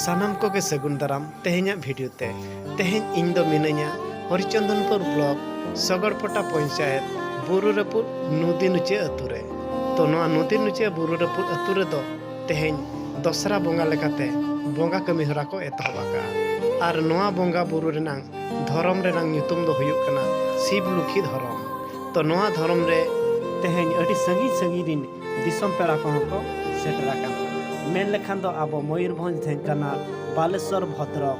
ᱥᱟᱱᱟᱢ ᱠᱚᱜᱮ ᱥᱟᱹᱜᱩᱱ ᱫᱟᱨᱟᱢ ᱛᱮᱦᱮᱧᱟᱜ ᱵᱷᱤᱰᱤᱭᱳ ᱛᱮ ᱛᱮᱦᱮᱧ ᱤᱧ ᱫᱚ ᱢᱤᱱᱟᱹᱧᱟ ᱦᱚᱨᱤᱪᱚᱱᱫᱚᱱᱯᱩᱨ ᱵᱞᱚᱠ ᱥᱚᱜᱚᱲᱯᱚᱴᱟ ᱯᱚᱧᱪᱟᱭᱮᱛ ᱵᱩᱨᱩ ᱨᱟᱹᱯᱩᱫ ᱱᱚᱫᱤ ᱱᱩᱪᱟᱹ ᱟᱹᱛᱩ ᱨᱮ ᱛᱚ ᱱᱚᱣᱟ ᱱᱚᱫᱤ ᱱᱩᱪᱟᱹ ᱵᱩᱨᱩ ᱨᱟᱹᱯᱩᱫ ᱟᱹᱛᱩ ᱨᱮᱫᱚ ᱛᱮᱦᱮᱧ ᱫᱚᱥᱨᱟ ᱵᱚᱸᱜᱟ ᱞᱮᱠᱟᱛᱮ ᱵᱚᱸᱜᱟ ᱠᱟᱹᱢᱤ ᱦᱚᱨᱟ ᱠᱚ ᱮᱛᱚᱦᱚᱵ ᱟᱠᱟᱜᱼᱟ ᱟᱨ ᱱᱚᱣᱟ ᱵᱚᱸᱜᱟ ᱵᱩᱨᱩ ᱨᱮᱱᱟᱝ ᱫᱷᱚᱨᱚᱢ ᱨᱮᱱᱟᱝ ᱧᱩᱛᱩᱢ ᱫᱚ ᱦᱩᱭᱩᱜ ᱠᱟᱱᱟ ᱥᱤᱵ ᱞᱩᱠᱷᱤ ᱫᱷᱚᱨᱚᱢ ᱛᱚ ᱱᱚᱣᱟ ᱫᱷᱚᱨᱚᱢ ᱨᱮ ᱛᱮᱦᱮᱧ ᱟᱹᱰᱤ ᱥᱟᱺᱜᱤᱧ ᱥᱟᱺᱜᱤᱧ ᱨᱤᱱ ᱫᱤᱥᱚᱢ ᱯᱮᱲᱟ ᱠᱚᱦᱚᱸ ᱠᱚ ᱥᱮᱴᱮᱨ ᱟᱠᱟᱱᱟ ᱢᱮᱱ ᱞᱮᱠᱷᱟᱱ ᱫᱚ ᱟᱵᱚ ᱢᱚᱭᱩᱨᱵᱷᱚᱸᱡᱽ ᱰᱷᱮᱝᱠᱟᱱᱟᱞ ᱵᱟᱞᱮᱥᱚᱨ ᱵᱷᱚᱫᱽᱨᱚᱠ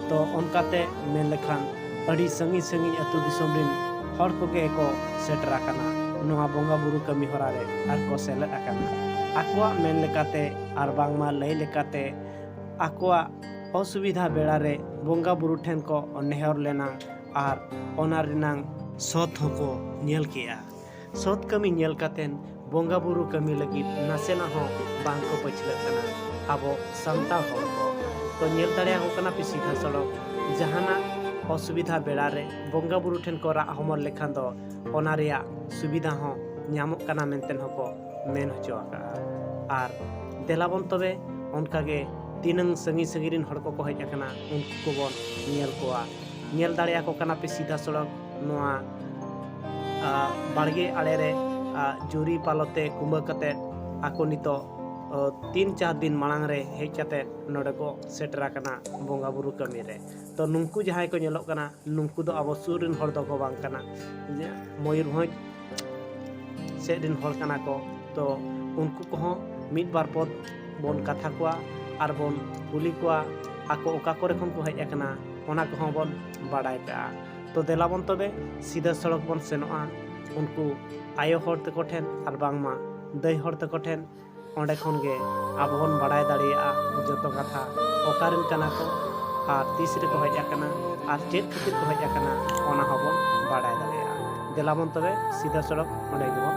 ᱛᱚ ᱚᱱᱠᱟᱛᱮ ᱢᱮᱱ ᱞᱮᱠᱷᱟᱱ ᱟᱹᱰᱤ ᱥᱟᱺᱜᱤᱧ ᱥᱟᱺᱜᱤᱧ ᱟᱹᱛᱩ ᱫᱤᱥᱚᱢ ᱨᱤᱱ ᱦᱚᱲ ᱠᱚᱜᱮ ᱠᱚ ᱥᱮᱴᱮᱨ ᱟᱠᱟᱱᱟ ᱱᱚᱣᱟ ᱵᱚᱸᱜᱟ ᱵᱩᱨᱩ ᱠᱟᱹᱢᱤ ᱦᱚᱨᱟ ᱨᱮ ᱟᱨ ᱠᱚ ᱥᱮᱞᱮᱫ ᱟᱠᱟᱱᱟ ᱟᱠᱚᱣᱟᱜ ᱢᱮᱱ ᱞᱮᱠᱟᱛᱮ ᱟᱨ ᱵᱟᱝᱢᱟ ᱞᱟᱹᱭ ᱞᱮᱠᱟᱛᱮ ᱟᱠᱚᱣᱟᱜ ᱚᱥᱩᱵᱤᱫᱷᱟ ᱵᱮᱲᱟ ᱨᱮ ᱵᱚᱸᱜᱟ ᱵᱩᱨᱩ ᱴᱷᱮᱱ ᱠᱚ ᱱᱮᱦᱚᱨ ᱞᱮᱱᱟ ᱟᱨ ᱚᱱᱟ ᱨᱮᱱᱟᱜ ᱥᱚᱛ ᱦᱚᱸᱠᱚ ᱧᱮᱞ ᱠᱮᱜᱼᱟ ᱥᱚᱛ ᱠᱟᱹᱢᱤ ᱧᱮᱞ ᱠᱟᱛᱮᱱ ᱵᱚᱸᱜᱟ ᱵᱩᱨᱩ ᱠᱟᱹᱢᱤ ᱞᱟᱹᱜᱤᱫ ᱱᱟᱥᱮᱱᱟ ᱦᱚᱸ ᱵᱟᱝ ᱠᱚ ᱯᱟᱹᱪᱷᱞᱟᱹᱜ ᱠᱟᱱᱟ ᱟᱵᱚ ᱥᱟᱱᱛᱟᱲ ᱦᱚᱲ ᱠᱚ ᱛᱚ ᱧᱮᱞ ᱫᱟᱲᱮᱭᱟᱠᱚ ᱠᱟᱱᱟ ᱯᱮ ᱥᱤᱫᱷᱟᱹ ᱥᱚᱲᱚᱠ ᱡᱟᱦᱟᱱᱟᱜ ᱚᱥᱩᱵᱤᱫᱷᱟ ᱵᱮᱲᱟ ᱨᱮ ᱵᱚᱸᱜᱟ ᱵᱩᱨᱩ ᱴᱷᱮᱱ ᱠᱚ ᱨᱟᱜ ᱦᱚᱢᱚᱨ ᱞᱮᱠᱷᱟᱱ ᱫᱚ ᱚᱱᱟ ᱨᱮᱭᱟᱜ ᱥᱩᱵᱤᱫᱷᱟ ᱦᱚᱸ ᱧᱟᱢᱚᱜ ᱠᱟᱱᱟ ᱢᱮᱱᱛᱮ ᱦᱚᱸ ᱠᱚ ᱢᱮᱱ ᱦᱚᱪᱚ ᱟᱠᱟᱜᱼᱟ ᱟᱨ ᱫᱮᱞᱟᱵᱚᱱ ᱛᱚᱵᱮ ᱚᱱᱠᱟ ᱜᱮ ᱛᱤᱱᱟᱹᱝ ᱥᱟᱺᱜᱤᱧ ᱥᱟᱺᱜᱤᱧ ᱨᱮᱱ ᱦᱚᱲ ᱠᱚᱠᱚ ᱦᱮᱡ ᱟᱠᱟᱱᱟ ᱩᱱᱠᱩ ᱠᱚᱵᱚᱱ ᱧᱮᱞ ᱠᱚᱣᱟ ᱧᱮᱞ ᱫᱟᱲᱮᱭᱟᱠᱚ ᱠᱟᱱᱟ ᱯᱮ ᱥᱤᱫᱷᱟᱹ ᱥᱚᱲᱚᱠ ᱱᱚᱣᱟ ᱵᱟᱲᱜᱮ ᱟᱲᱮ ᱨᱮ ᱡᱩᱨᱤ ᱯᱟᱞᱚᱛᱮ ᱠᱩᱢᱵᱟᱹ ᱠᱟᱛᱮ ᱟᱠᱚ ᱱᱤᱛᱚᱜ ᱛᱤᱱ ᱪᱟᱨ ᱫᱤᱱ ᱢᱟᱲᱟᱝ ᱨᱮ ᱦᱮᱡ ᱠᱟᱛᱮ ᱱᱚᱰᱮ ᱠᱚ ᱥᱮᱴᱮᱨ ᱟᱠᱟᱱᱟ ᱵᱚᱸᱜᱟ ᱵᱩᱨᱩ ᱠᱟᱹᱢᱤ ᱨᱮ ᱛᱚ ᱱᱩᱝᱠᱩ ᱡᱟᱦᱟᱸᱭ ᱠᱚ ᱧᱮᱞᱚᱜ ᱠᱟᱱᱟ ᱱᱩᱝᱠᱩ ᱫᱚ ᱟᱵᱚ ᱥᱩᱨ ᱨᱮᱱ ᱦᱚᱲ ᱫᱚᱠᱚ ᱵᱟᱝ ᱠᱟᱱᱟ ᱢᱚᱭᱩᱨᱵᱷᱚᱸᱡᱽ ᱥᱮᱫ ᱨᱮᱱ ᱦᱚᱲ ᱠᱟᱱᱟ ᱠᱚ ᱛᱚ ᱩᱱᱠᱩ ᱠᱚᱦᱚᱸ ᱢᱤᱫ ᱵᱟᱨ ᱯᱚᱫ ᱵᱚᱱ ᱠᱟᱛᱷᱟ ᱠᱚᱣᱟ ᱟᱨ ᱵᱚᱱ ᱠᱩᱞᱤ ᱠᱚᱣᱟ ᱟᱠᱚ ᱚᱠᱟ ᱠᱚᱨᱮ ᱠᱷᱚᱱ ᱠᱚ ᱦᱮᱡ ᱟᱠᱟᱱᱟ ᱚᱱᱟ ᱠᱚᱦᱚᱸ ᱵᱚᱱ ᱵᱟᱰᱟᱭ ᱠᱟᱜᱼᱟ ᱛᱚ ᱫᱮᱞᱟ ᱵᱚᱱ ᱛᱚᱵᱮ ᱥᱤᱫᱟᱹ ᱥᱚᱲᱚᱠ ᱵᱚᱱ ᱥᱮᱱᱚᱜᱼᱟ ᱩᱱᱠᱩ ᱟᱭᱳ ᱦᱚᱲ ᱛᱟᱠᱚ ᱴᱷᱮᱱ ᱟᱨ ᱵᱟᱝᱢᱟ ᱫᱟᱹᱭ ᱦᱚᱲ ᱛᱟᱠᱚ ᱴᱷᱮᱱ ᱚᱸᱰᱮ ᱠᱷᱚᱱ ᱜᱮ ᱟᱵᱚ ᱵᱚᱱ ᱵᱟᱲᱟᱭ ᱫᱟᱲᱮᱭᱟᱜᱼᱟ ᱡᱚᱛᱚ ᱠᱟᱛᱷᱟ ᱚᱠᱟᱨᱮᱱ ᱠᱟᱱᱟ ᱠᱚ ᱟᱨ ᱛᱤᱥ ᱨᱮᱠᱚ ᱦᱮᱡ ᱟᱠᱟᱱᱟ ᱟᱨ ᱪᱮᱫ ᱠᱷᱟᱹᱛᱤᱨ ᱠᱚ ᱦᱮᱡ ᱟᱠᱟᱱᱟ ᱚᱱᱟ ᱦᱚᱸᱵᱚᱱ ᱵᱟᱲᱟᱭ ᱫᱟᱲᱮᱭᱟᱜᱼᱟ ᱫᱮᱞᱟ ᱵᱚᱱ ᱛᱚᱵᱮ ᱥᱤᱫᱟᱹ ᱥᱚᱲᱚᱠ ᱚᱸᱰᱮ ᱜᱮᱵᱚᱱ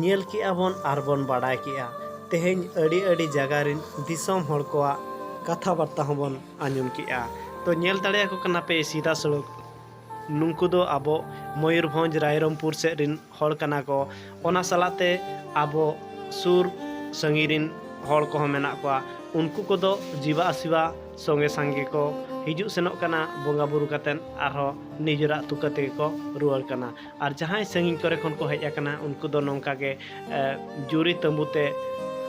ᱧᱮᱞ ᱠᱮᱜᱼᱟ ᱵᱚᱱ ᱟᱨ ᱵᱚᱱ ᱵᱟᱰᱟᱭ ᱠᱮᱜᱼᱟ ᱛᱮᱦᱮᱧ ᱟᱹᱰᱤ ᱟᱹᱰᱤ ᱡᱟᱭᱜᱟ ᱨᱮᱱ ᱫᱤᱥᱚᱢ ᱦᱚᱲ ᱠᱚᱣᱟᱜ ᱠᱟᱛᱷᱟ ᱵᱟᱨᱛᱟ ᱦᱚᱸ ᱵᱚᱱ ᱟᱸᱡᱚᱢ ᱠᱮᱜᱼᱟ ᱛᱚ ᱧᱮᱞ ᱫᱟᱲᱮ ᱟᱠᱚ ᱠᱟᱱᱟ ᱯᱮ ᱥᱤᱫᱷᱟ ᱥᱚᱲᱚᱠ ᱱᱩᱠᱩ ᱫᱚ ᱟᱵᱚ ᱢᱚᱭᱩᱨᱵᱷᱚᱸᱡᱽ ᱨᱟᱭᱨᱚᱝᱯᱩᱨ ᱥᱮᱫ ᱨᱮᱱ ᱦᱚᱲ ᱠᱟᱱᱟ ᱠᱚ ᱚᱱᱟ ᱥᱟᱞᱟᱜ ᱛᱮ ᱟᱵᱚ ᱥᱩᱨ ᱥᱟᱺᱜᱤᱧ ᱨᱮᱱ ᱦᱚᱲ ᱠᱚᱦᱚᱸ ᱢᱮᱱᱟᱜ ᱠᱚᱣᱟ ᱩᱱᱠᱩ ᱠᱚᱫᱚ ᱡᱤᱵᱟ ᱟᱥᱤᱵᱟ ᱥᱚᱸᱜᱮ ᱥᱟᱸᱜᱮ ᱠᱚ ᱦᱤᱡᱩᱜ ᱥᱮᱱᱚᱜ ᱠᱟᱱᱟ ᱵᱚᱸᱜᱟ ᱵᱩᱨᱩ ᱠᱟᱛᱮᱫ ᱟᱨᱦᱚᱸ ᱱᱤᱡᱮᱨᱟᱜ ᱛᱩᱠᱟᱹ ᱛᱮᱜᱮ ᱠᱚ ᱨᱩᱣᱟᱹᱲ ᱠᱟᱱᱟ ᱟᱨ ᱡᱟᱦᱟᱸᱭ ᱥᱟᱺᱜᱤᱧ ᱠᱚᱨᱮ ᱠᱷᱚᱱ ᱠᱚ ᱦᱮᱡ ᱟᱠᱟᱱᱟ ᱩᱱᱠᱩ ᱫᱚ ᱱᱚᱝᱠᱟ ᱜᱮ ᱡᱩᱨᱤ ᱛᱟᱹᱵᱩ ᱛᱮ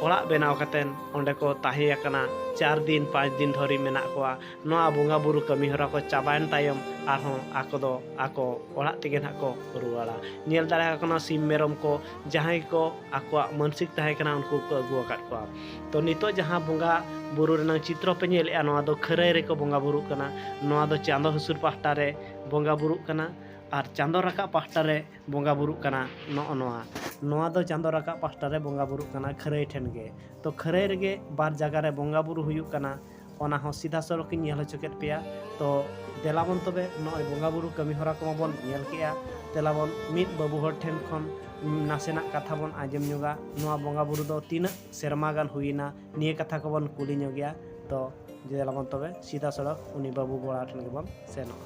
ᱚᱲᱟᱜ ᱵᱮᱱᱟᱣ ᱠᱟᱛᱮᱫ ᱚᱸᱰᱮ ᱠᱚ ᱛᱟᱦᱮᱸ ᱟᱠᱟᱱᱟ ᱪᱟᱨ ᱫᱤᱱ ᱯᱟᱸᱪ ᱫᱤᱱ ᱫᱷᱚᱨᱮ ᱢᱮᱱᱟᱜ ᱠᱚᱣᱟ ᱱᱚᱣᱟ ᱵᱚᱸᱜᱟ ᱵᱩᱨᱩ ᱠᱟᱹᱢᱤ ᱦᱚᱨᱟ ᱠᱚ ᱪᱟᱵᱟᱭᱮᱱ ᱛᱟᱭᱚᱢ ᱟᱨᱦᱚᱸ ᱟᱠᱚ ᱫᱚ ᱟᱠᱚ ᱚᱲᱟᱜ ᱛᱮᱜᱮ ᱱᱟᱦᱟᱜ ᱠᱚ ᱨᱩᱣᱟᱹᱲᱟ ᱧᱮᱞ ᱫᱟᱲᱮ ᱟᱠᱚ ᱠᱟᱱᱟ ᱥᱤᱢ ᱢᱮᱨᱚᱢ ᱠᱚ ᱡᱟᱦᱟᱸᱭ ᱠᱚ ᱟᱠᱚᱣᱟᱜ ᱢᱟᱹᱱᱥᱤᱠ ᱛᱟᱦᱮᱸ ᱠᱟᱱᱟ ᱩᱱᱠᱩ ᱠᱚ ᱟᱹᱜᱩ ᱟᱠᱟᱫ ᱠᱚᱣᱟ ᱛᱚ ᱱᱤᱛᱚᱜ ᱡᱟᱦᱟᱸ ᱵᱚᱸᱜᱟ ᱵᱩᱨᱩ ᱨᱮᱱᱟᱜ ᱪᱤᱛᱨᱚ ᱯᱮ ᱧᱮᱞᱮᱜᱼᱟ ᱱᱚᱣᱟ ᱫᱚ ᱠᱷᱟᱹᱨᱟᱹᱭ ᱨᱮᱠᱚ ᱵᱚᱸᱜᱟ ᱵᱩᱨᱩᱜ ᱠᱟᱱᱟ ᱱᱚᱣᱟ ᱫᱚ ᱪᱟᱸᱫᱚ ᱦᱟᱹᱥᱩᱨ ᱯᱟᱦᱴᱟ ᱨᱮ ᱵᱚᱸᱜᱟ ᱵᱩᱨᱩᱜ ᱠᱟᱱᱟ ᱟᱨ ᱪᱟᱸᱫᱚ ᱨᱟᱠᱟᱵ ᱯᱟᱦᱴᱟ ᱨᱮ ᱵᱚᱸᱜᱟ ᱵᱩᱨᱩᱜ ᱠᱟᱱᱟ ᱱᱚᱜᱼᱚ ᱱᱚᱣᱟ ᱱᱚᱣᱟ ᱫᱚ ᱪᱟᱸᱫᱚ ᱨᱟᱠᱟᱵ ᱯᱟᱦᱴᱟ ᱨᱮ ᱵᱚᱸᱜᱟ ᱵᱩᱨᱩᱜ ᱠᱟᱱᱟ ᱠᱷᱟᱹᱨᱟᱹᱭ ᱴᱷᱮᱱ ᱜᱮ ᱛᱚ ᱠᱷᱟᱹᱨᱟᱹᱭ ᱨᱮᱜᱮ ᱵᱟᱨ ᱡᱟᱭᱜᱟ ᱨᱮ ᱵᱚᱸᱜᱟ ᱵᱩᱨᱩ ᱦᱩᱭᱩᱜ ᱠᱟᱱᱟ ᱚᱱᱟ ᱦᱚᱸ ᱥᱤᱫᱷᱟ ᱥᱚᱲᱚᱠ ᱤᱧ ᱧᱮᱞ ᱦᱚᱪᱚ ᱠᱮᱫ ᱯᱮᱭᱟ ᱛᱚ ᱫᱮᱞᱟ ᱵᱚᱱ ᱛᱚᱵᱮ ᱱᱚᱜᱼᱚᱭ ᱵᱚᱸᱜᱟ ᱵᱩᱨᱩ ᱠᱟᱹᱢᱤ ᱦᱚᱨᱟ ᱠᱚᱢᱟ ᱵᱚᱱ ᱧᱮᱞ ᱠᱮᱜᱼᱟ ᱫᱮᱞᱟ ᱵᱚᱱ ᱢᱤᱫ ᱵᱟᱹᱵᱩ ᱦᱚᱲ ᱴᱷᱮᱱ ᱠᱷᱚᱱ ᱱᱟᱥᱮᱱᱟᱜ ᱠᱟᱛᱷᱟ ᱵᱚᱱ ᱟᱸᱡᱚᱢ ᱧᱚᱜᱟ ᱱᱚᱣᱟ ᱵᱚᱸᱜᱟ ᱵᱩᱨᱩ ᱫᱚ ᱛᱤᱱᱟᱹᱜ ᱥᱮᱨᱢᱟ ᱜᱟᱱ ᱦᱩᱭᱮᱱᱟ ᱱᱤᱭᱟᱹ ᱠᱟᱛᱷᱟ ᱠᱚᱵᱚᱱ ᱠᱩᱞᱤ ᱧᱚᱜᱮᱭᱟ ᱛᱚ ᱫᱮᱞᱟ ᱵᱚᱱ ᱛᱚᱵᱮ ᱥᱤᱫᱷᱟ ᱥᱚᱲᱚᱠ ᱩᱱᱤ ᱵᱟᱹᱵᱩ ᱜᱚᱲᱟ ᱴᱷᱮᱱ ᱜᱮᱵᱚᱱ ᱥᱮᱱᱚᱜᱼᱟ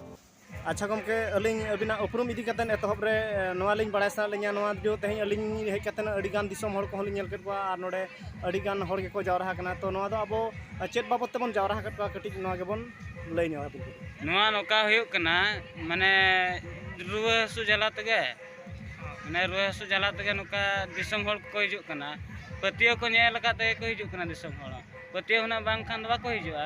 ᱟᱪᱪᱷᱟ ᱜᱚᱢᱠᱮ ᱟᱹᱞᱤᱧ ᱟᱹᱵᱤᱱᱟᱜ ᱩᱯᱨᱩᱢ ᱤᱫᱤ ᱠᱟᱛᱮᱫ ᱮᱛᱚᱦᱚᱵ ᱨᱮ ᱱᱚᱣᱟ ᱞᱤᱧ ᱵᱟᱲᱟᱭ ᱥᱟᱱᱟᱭᱮᱫ ᱞᱤᱧᱟᱹ ᱱᱚᱣᱟ ᱡᱮ ᱛᱮᱦᱮᱧ ᱟᱹᱞᱤᱧ ᱦᱮᱡ ᱠᱟᱛᱮᱫ ᱟᱹᱰᱤ ᱜᱟᱱ ᱫᱤᱥᱚᱢ ᱦᱚᱲ ᱠᱚᱦᱚᱸ ᱞᱤᱧ ᱧᱮᱞ ᱠᱮᱫ ᱠᱚᱣᱟ ᱟᱨ ᱱᱚᱰᱮ ᱟᱹᱰᱤ ᱜᱟᱱ ᱦᱚᱲ ᱜᱮᱠᱚ ᱡᱟᱣᱨᱟ ᱟᱠᱟᱱᱟ ᱛᱚ ᱱᱚᱣᱟ ᱫᱚ ᱟᱵᱚ ᱪᱮᱫ ᱵᱟᱵᱚᱫ ᱛᱮᱵᱚᱱ ᱡᱟᱣᱨᱟ ᱟᱠᱟᱫ ᱠᱚᱣᱟ ᱠᱟᱹᱴᱤᱡ ᱱᱚᱣᱟ ᱜᱮᱵᱚᱱ ᱞᱟᱹᱭ ᱧᱚᱜ ᱟᱵᱚᱱ ᱱᱚᱣᱟ ᱱᱚᱝᱠᱟ ᱦᱩᱭᱩᱜ ᱠᱟᱱᱟ ᱢᱟᱱᱮ ᱨᱩᱣᱟᱹ ᱦᱟᱹᱥᱩ ᱡᱟᱞᱟ ᱛᱮᱜᱮ ᱢᱟᱱᱮ ᱨᱩᱣᱟᱹ ᱦᱟᱹᱥᱩ ᱡᱟᱞᱟ ᱛᱮᱜᱮ ᱱᱚᱝᱠᱟ ᱫᱤᱥᱚᱢ ᱦᱚᱲ ᱠᱚ ᱦᱤᱡᱩᱜ ᱠᱟᱱᱟ ᱯᱟᱹᱛᱭᱟᱹᱣ ᱠᱚ ᱧᱮᱞ ᱟᱠᱟᱫ ᱛᱮᱜᱮ ᱠᱚ ᱦᱤᱡᱩᱜ ᱠᱟᱱᱟ ᱫᱤᱥᱚᱢ ᱦᱚᱲ ᱯᱟᱹᱛᱭᱟᱹᱣ ᱦᱩᱱᱟᱹᱝ ᱵᱟᱝᱠᱷᱟᱱ ᱫᱚ ᱵᱟᱠᱚ ᱦᱤᱡᱩᱜᱼᱟ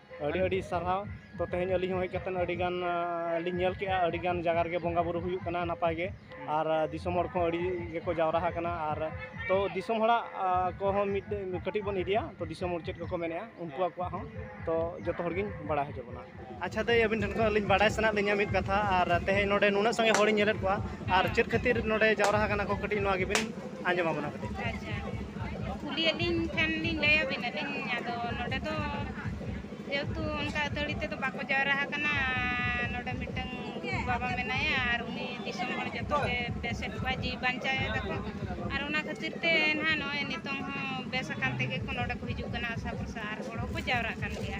ᱟᱹᱰᱤ ᱟᱹᱰᱤ ᱥᱟᱨᱦᱟᱣ ᱛᱚ ᱛᱮᱦᱮᱧ ᱟᱹᱞᱤᱧ ᱦᱚᱸ ᱦᱮᱡ ᱠᱟᱛᱮᱫ ᱟᱹᱰᱤ ᱜᱟᱱ ᱞᱤᱧ ᱧᱮᱞ ᱠᱮᱜᱼᱟ ᱟᱹᱰᱤ ᱜᱟᱱ ᱡᱟᱭᱜᱟ ᱨᱮᱜᱮ ᱵᱚᱸᱜᱟ ᱵᱳᱨᱳ ᱦᱩᱭᱩᱜ ᱠᱟᱱᱟ ᱱᱟᱯᱟᱭ ᱜᱮ ᱟᱨ ᱫᱤᱥᱚᱢ ᱦᱚᱲ ᱠᱚᱦᱚᱸ ᱟᱹᱰᱤ ᱜᱮᱠᱚ ᱡᱟᱣᱨᱟ ᱟᱠᱟᱱᱟ ᱟᱨ ᱛᱚ ᱫᱤᱥᱚᱢ ᱦᱚᱲᱟᱜ ᱠᱚᱦᱚᱸ ᱢᱤᱫ ᱠᱟᱹᱴᱤᱡ ᱵᱚᱱ ᱤᱫᱤᱭᱟ ᱛᱚ ᱫᱤᱥᱚᱢ ᱦᱚᱲ ᱪᱮᱫ ᱠᱚᱠᱚ ᱢᱮᱱᱮᱜᱼᱟ ᱩᱱᱠᱩ ᱟᱠᱚᱣᱟᱜ ᱦᱚᱸ ᱛᱚ ᱡᱚᱛᱚ ᱦᱚᱲ ᱜᱤᱧ ᱵᱟᱲᱟᱭ ᱦᱚᱪᱚ ᱵᱚᱱᱟ ᱟᱪᱪᱷᱟ ᱫᱟᱹᱭ ᱟᱹᱵᱤᱱ ᱴᱷᱮᱱ ᱠᱷᱚᱱ ᱟᱹᱞᱤᱧ ᱵᱟᱰᱟᱭ ᱥᱟᱱᱟᱭᱮᱫ ᱞᱤᱧᱟ ᱢᱤᱫ ᱠᱟᱛᱷᱟ ᱟᱨ ᱛᱮᱦᱮᱧ ᱱᱚᱰᱮ ᱱᱩᱱᱟᱹᱜ ᱥᱟᱸᱜᱮ ᱦᱚᱲᱤᱧ ᱧᱮᱞᱮᱫ ᱠᱚᱣᱟ ᱟᱨ ᱪᱮᱫ ᱠᱷᱟᱹᱛᱤᱨ ᱱᱚᱰᱮ ᱡᱟᱣᱨᱟ ᱟᱠᱟᱱᱟ ᱠᱚ ᱠᱟᱹᱴᱤᱡ ᱱᱚᱣᱟ ᱜᱮᱵᱤᱱ ᱟᱸᱡᱚᱢ ᱟᱵᱚᱱᱟ ᱠᱟᱹᱴᱤᱡ ᱟᱪᱪᱷᱟ ᱠᱩᱞᱤᱭᱮᱫ ᱞᱤᱧ ᱠᱷᱟᱱ ᱞᱤᱧ ᱞᱟᱹᱭ ᱟᱵᱤᱱᱟ ᱞᱤᱧ ᱟᱫᱚ ᱱᱚᱰᱮ ᱫᱚ ᱡᱮᱦᱮᱛᱩ ᱚᱱᱠᱟ ᱟᱹᱛᱷᱟᱹᱲᱤ ᱛᱮᱫᱚ ᱵᱟᱠᱚ ᱡᱟᱣᱨᱟ ᱟᱠᱟᱱᱟ ᱱᱚᱰᱮ ᱢᱤᱫᱴᱟᱝ ᱵᱟᱵᱟ ᱢᱮᱱᱟᱭᱟ ᱟᱨ ᱩᱱᱤ ᱫᱤᱥᱚᱢ ᱦᱚᱲ ᱡᱚᱛᱚ ᱜᱮ ᱵᱮᱥᱮᱫ ᱠᱚᱣᱟ ᱡᱤᱣᱤ ᱵᱟᱧᱪᱟᱣ ᱮᱫᱟᱠᱚ ᱟᱨ ᱚᱱᱟ ᱠᱷᱟᱹᱛᱤᱨ ᱛᱮ ᱱᱟᱦᱟᱜ ᱱᱚᱜᱼᱚᱭ ᱱᱤᱛᱚᱝ ᱦᱚᱸ ᱵᱮᱥ ᱟᱠᱟᱱ ᱛᱮᱜᱮ ᱠᱚ ᱱᱚᱰᱮ ᱠᱚ ᱦᱤᱡᱩᱜ ᱠᱟᱱᱟ ᱟᱥᱟ ᱵᱷᱚᱨᱥᱟ ᱟᱨ ᱦᱚᱲ ᱦᱚᱸᱠᱚ ᱡᱟᱣᱨᱟᱜ ᱠᱟᱱ ᱜᱮᱭᱟ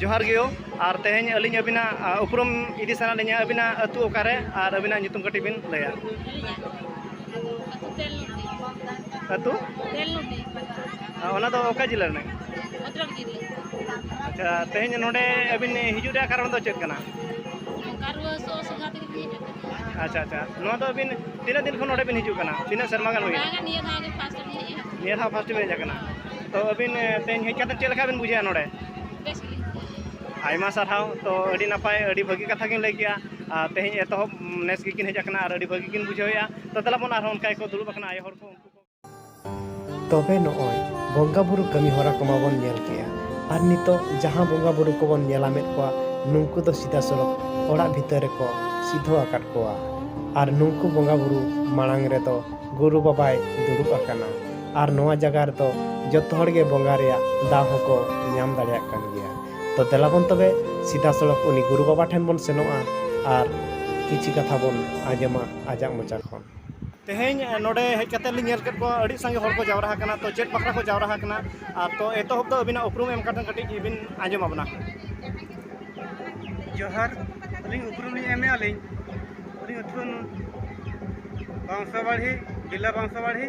ᱡᱚᱦᱟᱨ ᱜᱮᱭᱳ ᱟᱨ ᱛᱮᱦᱮᱧ ᱟᱹᱞᱤᱧ ᱟᱹᱵᱤᱱᱟᱜ ᱩᱯᱨᱩᱢ ᱤᱫᱤ ᱥᱟᱱᱟ ᱞᱤᱧᱟ ᱟᱹᱵᱤᱱᱟᱜ ᱟᱹᱛᱩ ᱚᱠᱟᱨᱮ ᱟᱨ ᱟᱹᱵᱤᱱᱟᱜ ᱧᱩᱛᱩᱢ ᱠᱟᱹᱴᱤᱡ ᱵᱤᱱ ᱞᱟᱹᱭᱟ ᱟᱹᱛᱩ ᱚᱱᱟ ᱫᱚ ᱚᱠᱟ ᱡᱤᱞᱟ ᱨᱮᱱᱟᱜ ᱟᱪᱪᱷᱟ ᱛᱮᱦᱮᱧ ᱱᱚᱰᱮ ᱟᱹᱵᱤᱱ ᱦᱤᱡᱩᱜ ᱨᱮᱭᱟᱜ ᱠᱟᱨᱚᱱ ᱫᱚ ᱪᱮᱫ ᱠᱟᱱᱟ ᱟᱪᱪᱷᱟ ᱟᱪᱪᱷᱟ ᱱᱚᱣᱟ ᱫᱚ ᱟᱹᱵᱤᱱ ᱛᱤᱱᱟᱹᱜ ᱫᱤᱱ ᱠᱷᱚᱱ ᱱᱚᱰᱮ ᱵᱤᱱ ᱦᱤᱡᱩᱜ ᱠᱟᱱᱟ ᱛᱤᱱᱟᱹᱜ ᱥᱮᱨᱢᱟ ᱜᱟᱱ ᱦᱩᱭᱱᱟ ᱱᱤᱭᱟᱹ ᱫᱷᱟᱣ ᱯᱷᱟᱥᱴ ᱵᱤᱱ ᱦᱮᱡ ᱟᱠᱟᱱᱟ ᱛᱚ ᱟᱹᱵᱤᱱ ᱛᱮᱦᱮᱧ ᱦᱮᱡ ᱠᱟᱛᱮ ᱪᱮᱫ ᱞᱮᱠᱟ ᱵᱤᱱ ᱵᱩᱡᱷᱟᱹᱣᱟ ᱱᱚᱰᱮ ᱟᱭᱢᱟ ᱥᱟᱨᱦᱟᱣ ᱛᱚ ᱟᱹᱰᱤ ᱱᱟᱯᱟᱭ ᱟᱹᱰᱤ ᱵᱷᱟᱹᱜᱤ ᱠᱟᱛᱷᱟ ᱜᱤᱧ ᱞᱟᱹᱭ ᱠᱮᱜᱼᱟ ᱟᱨ ᱛᱮᱦᱮᱧ ᱮᱛᱚᱦᱚᱵ ᱱᱮᱥ ᱜᱮᱠᱤᱱ ᱦᱮᱡ ᱟᱠᱟᱱᱟ ᱟᱨ ᱟᱹᱰᱤ ᱵᱷᱟᱹᱜᱤ ᱠᱤᱱ ᱵᱩᱡᱷᱟᱹᱣᱮᱜᱼᱟ ᱛᱚ ᱫᱮᱞᱟ ᱵᱚᱱ ᱟᱨᱦᱚᱸ ᱚᱱᱠᱟ ᱜᱮᱠᱚ ᱫᱩᱲᱩᱵ ᱟᱠᱟᱱᱟ ᱟᱭᱳ ᱦᱚᱲ ᱠᱚ ᱩᱱᱠᱩ ᱛᱚᱵᱮ ᱱᱚᱜᱼᱚᱭ ᱵᱚᱸᱜᱟ ᱵᱩᱨᱩ ᱠᱟᱹᱢᱤ ᱦᱚᱨᱟ ᱠᱚᱢᱟ ᱵᱚᱱ ᱧᱮᱞ ᱠᱮᱜᱼᱟ ᱟᱨ ᱱᱤᱛᱚᱜ ᱡᱟᱦᱟᱸ ᱵᱚᱸᱜᱟ ᱵᱩᱨᱩ ᱠᱚᱵᱚᱱ ᱧᱮᱞᱟ ᱢᱮᱫ ᱠᱚᱣᱟ ᱱᱩᱝᱠᱩ ᱫᱚ ᱥᱤᱫᱷᱟ ᱥᱚᱲᱚᱠ ᱚᱲᱟᱜ ᱵᱷᱤᱛᱟᱹᱨ ᱨᱮᱠᱚ ᱥᱤᱫᱷᱚ ᱟᱠᱟᱫ ᱠᱚᱣᱟ ᱟᱨ ᱱᱩᱝᱠᱩ ᱵᱚᱸᱜᱟ ᱵᱩᱨᱩ ᱢᱟᱲᱟᱝ ᱨᱮᱫᱚ ᱜᱩᱨᱩ ᱵᱟᱵᱟᱭ ᱫᱩᱲᱩᱵ ᱟᱠᱟᱱᱟ ᱟᱨ ᱱᱚᱣᱟ ᱡᱟᱭᱜᱟ ᱨᱮᱫᱚ ᱡᱚᱛᱚ ᱦᱚᱲ ᱜᱮ ᱵᱚᱸᱜᱟ ᱨᱮᱭᱟᱜ ᱫᱟᱣ ᱦᱚᱸᱠᱚ ᱧᱟᱢ ᱫᱟᱲᱮᱭᱟᱜ ᱠᱟᱱ ᱜᱮᱭᱟ ᱛᱚ ᱫᱮᱞᱟ ᱵᱚᱱ ᱛᱚᱵᱮ ᱥᱤᱫᱷᱟ ᱥᱚᱲᱚᱠ ᱩᱱᱤ ᱜᱩᱨᱩ ᱵᱟᱵᱟ ᱴᱷᱮᱱ ᱵᱚᱱ ᱥᱮᱱᱚᱜᱼᱟ ᱟᱨ ᱠᱤᱪᱷᱩ ᱠᱟᱛᱷᱟ ᱵᱚᱱ ᱟᱸᱡᱚᱢᱟ ᱟᱡᱟᱜ ᱢᱚᱪᱟ ᱠᱷᱚᱱ ᱛᱮᱦᱮᱧ ᱱᱚᱰᱮ ᱦᱮᱡ ᱠᱟᱛᱮ ᱞᱤᱧ ᱧᱮᱞ ᱠᱮᱫ ᱠᱚᱣᱟ ᱟᱹᱰᱤ ᱥᱟᱸᱜᱮ ᱦᱚᱲ ᱠᱚ ᱡᱟᱣᱨᱟ ᱟᱠᱟᱱᱟ ᱛᱚ ᱪᱮᱫ ᱵᱟᱠᱷᱨᱟ ᱠᱚ ᱡᱟᱣᱨᱟ ᱟᱠᱟᱱᱟ ᱟᱨ ᱛᱚ ᱮᱛᱚᱦᱚᱵ ᱫᱚ ᱟᱹᱵᱤᱱᱟᱜ ᱩᱯᱨᱩᱢ ᱮᱢ ᱠᱟᱛᱮ ᱠᱟᱹᱴᱤᱡ ᱵᱤᱱ ᱟᱸᱡᱚᱢ ᱟᱵᱚᱱᱟ ᱡᱚᱦᱟᱨ ᱟᱹᱞᱤᱧ ᱩᱯᱨᱩᱢ ᱞᱤᱧ ᱮᱢᱮᱫ ᱟᱹᱞᱤᱧ ᱟᱹᱞᱤᱧ ᱟᱹᱛᱩ ᱵᱟᱝᱥᱟᱵᱟᱲᱦᱤ ᱵᱤᱞᱟ ᱵᱟᱝᱥᱟᱵᱟᱲᱦᱤ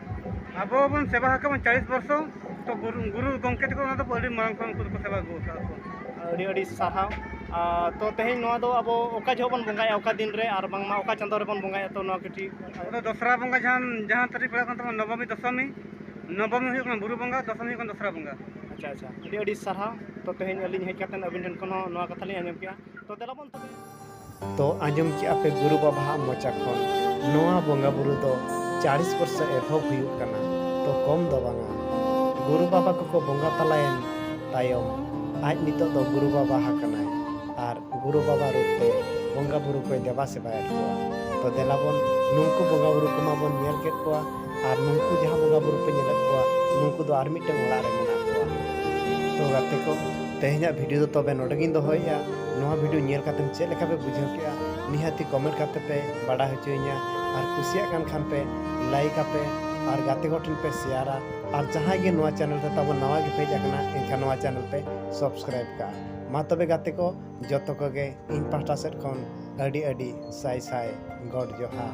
ᱟᱵᱚ ᱵᱚᱱ ᱥᱮᱵᱟ ᱟᱠᱟᱫ ᱪᱟᱞᱤᱥ ᱵᱚᱨᱥᱚ ᱛᱚ ᱜᱩᱨᱩ ᱜᱚᱢᱠᱮ ᱛᱟᱠᱚ ᱚᱱᱟ ᱫᱚ ᱟᱹᱰᱤ ᱢᱟᱲᱟᱝ ᱠᱷᱚᱱ ᱩᱱᱠᱩ ᱫᱚᱠᱚ ᱥᱮᱵᱟ ᱟᱹᱜᱩ ᱟᱠᱟᱫ ᱠᱚ ᱟᱹᱰᱤ ᱟᱹᱰᱤ ᱥᱟᱨᱦᱟᱣ ᱛᱚ ᱛᱮᱦᱮᱧ ᱱᱚᱣᱟ ᱫᱚ ᱟᱵᱚ ᱚᱠᱟ ᱡᱚᱦᱚᱜ ᱵᱚᱱ ᱵᱚᱸᱜᱟᱭᱟ ᱚᱠᱟ ᱫᱤᱱ ᱨᱮ ᱟᱨ ᱵᱟᱝᱢᱟ ᱚᱠᱟ ᱪᱟᱸᱫᱳ ᱨᱮᱵᱚᱱ ᱵᱚᱸᱜᱟᱭᱟ ᱛᱚ ᱱᱚᱣᱟ ᱠᱟᱹᱴᱤᱡ ᱟᱵᱚ ᱫᱚᱥᱨᱟ ᱵᱚᱸᱜᱟ ᱡᱟᱦᱟᱸ ᱡᱟᱦᱟᱸ ᱛᱟᱹᱨᱤᱠᱷ ᱯᱟᱲᱟᱜ ᱠᱟᱱ ᱛᱟᱵᱚᱱᱟ ᱱᱚᱵᱚᱢᱤ ᱫᱚᱥᱚᱢᱤ ᱱᱚᱵᱚᱢᱤ ᱦᱩᱭᱩᱜ ᱠᱟᱱᱟ ᱵᱩᱨᱩ ᱵᱚᱸᱜᱟ ᱫᱚᱥᱚᱢᱤ ᱦᱩᱭᱩᱜ ᱠᱟᱱᱟ ᱫᱚᱥᱨᱟ ᱵᱚᱸᱜᱟ ᱟᱪᱪᱷᱟ ᱟᱪᱪᱷᱟ ᱟᱹᱰᱤ ᱟᱹᱰᱤ ᱥᱟᱨᱦᱟᱣ ᱛᱚ ᱛᱮᱦᱮᱧ ᱟᱹᱞᱤᱧ ᱦᱮᱡ ᱠᱟᱛᱮᱫ ᱟᱹᱵᱤᱱ ᱴᱷᱮᱱ ᱠᱷᱚᱱ ᱦᱚᱸ ᱱᱚᱣᱟ ᱠᱟᱛᱷᱟ ᱞᱤᱧ ᱟᱸᱡᱚᱢ ᱠᱮᱫᱼᱟ ᱛᱚ ᱫᱮᱞᱟ ᱵᱚᱱ ᱛᱚᱵᱮ ᱛᱚ ᱟᱸᱡᱚᱢ ᱠᱮᱜᱼᱟ ᱯᱮ ᱜᱩᱨᱩ ᱵᱟᱵᱟ ᱟᱜ ᱢᱚᱪᱟ ᱠᱷᱚᱱ ᱱᱚᱣᱟ ᱵᱚᱸᱜᱟ ᱵᱩᱨᱩ ᱫᱚ 40 ᱵᱚᱨᱥᱚ ᱮᱛᱚᱦᱚᱵ ᱦᱩᱭᱩᱜ ᱠᱟᱱᱟ ᱛᱚ ᱠᱚᱢ ᱫᱚ ᱵᱟᱝᱟ ᱜᱩᱨᱩ ᱵᱟᱵᱟ ᱠᱚᱠᱚ ᱵᱚᱸᱜᱟ ᱛᱟᱞᱟᱭᱮᱱ ᱛᱟᱭᱚᱢ ᱟᱡ ᱱᱤᱛᱚᱜ ᱫᱚ ᱜᱩᱨᱩ ᱵᱟᱵᱟ ᱦᱟᱠᱟᱱᱟᱭ ᱟᱨ ᱜᱩᱨᱩ ᱵᱟᱵᱟ ᱨᱩᱯ ᱛᱮ ᱵᱚᱸᱜᱟ ᱵᱩᱨᱩ ᱠᱚᱭ ᱫᱮᱵᱟ ᱥᱮᱵᱟᱭᱮᱫ ᱠᱚᱣᱟ ᱛᱚ ᱫᱮᱞᱟ ᱵᱚᱱ ᱱᱩᱝᱠᱩ ᱵᱚᱸᱜᱟ ᱵᱩᱨᱩ ᱠᱚᱢᱟ ᱵᱚᱱ ᱧᱮᱞ ᱠᱮᱫ ᱠᱚᱣᱟ ᱟᱨ ᱱᱩᱠᱩ ᱡᱟᱦᱟᱸ ᱵᱚᱸᱜᱟ ᱵᱩᱨᱩ ᱯᱮ ᱧᱮᱞᱮᱫ ᱠᱚᱣᱟ ᱱᱩᱠᱩ ᱫᱚ ᱟᱨ ᱢᱤᱫᱴᱟᱝ ᱚᱲᱟᱜ ᱨᱮ ᱢᱮᱱᱟᱜ ᱠᱚᱣᱟ ᱛᱚ ᱜᱟᱛᱮ ᱠᱚ ᱛᱮᱦᱮᱧᱟᱜ ᱵᱷᱤᱰᱤᱭᱳ ᱫᱚ ᱛᱚᱵᱮ ᱱᱚᱰᱮ ᱜᱤᱧ ᱫᱚᱦᱚᱭᱮᱜᱼᱟ ᱱᱚᱣᱟ ᱵᱷᱤᱰᱤᱭᱳ ᱧᱮᱞ ᱠᱟᱛᱮ ᱪᱮᱫ ᱞᱮᱠᱟ ᱯᱮ ᱵᱩᱡᱷᱟᱹᱣ ᱠᱮᱜᱼᱟ ᱱᱤᱦᱟᱹᱛᱤ ᱠᱚᱢᱮᱱᱴ ᱠᱟᱛᱮ ᱯᱮ ᱵᱟᱰᱟᱭ ᱦᱚᱪᱚᱭᱤᱧᱟ ᱟᱨ ᱠᱩᱥᱤᱭᱟᱜ ᱠᱟᱱ ᱠᱷᱟᱱ ᱯᱮ ᱞᱟᱭᱤᱠ ᱟᱯᱮ ᱟᱨ ᱜᱟᱛᱮ ᱠᱚ ᱴᱷᱮᱱ ᱯᱮ ᱥᱮᱭᱟᱨᱟ ᱟᱨ ᱡᱟᱦᱟᱸᱭ ᱜᱮ ᱱᱚᱣᱟ ᱪᱮᱱᱮᱞ ᱨᱮ ᱛᱟᱵᱚ ᱱᱟᱣᱟ ᱜᱮ ᱯᱮᱡ ᱟᱠᱟᱱᱟ ᱮᱱᱠᱷᱟᱱ ᱱᱚᱣᱟ ᱪᱮᱱᱮᱞ ᱯᱮ ᱥᱟᱵᱥᱠᱨᱟᱭᱤᱵ ᱠᱟᱜᱼᱟ ᱢᱟ ᱛᱚᱵᱮ ᱜᱟᱛᱮ ᱠᱚ ᱡᱚᱛᱚ ᱠᱚᱜᱮ ᱤᱧ ᱯᱟᱦᱴᱟ ᱥᱮᱫ ᱠᱷᱚᱱ ᱟᱹᱰᱤ ᱟᱹᱰᱤ ᱥᱟᱭ ᱥᱟᱭ ᱜᱚᱰ ᱡᱚᱦᱟᱨ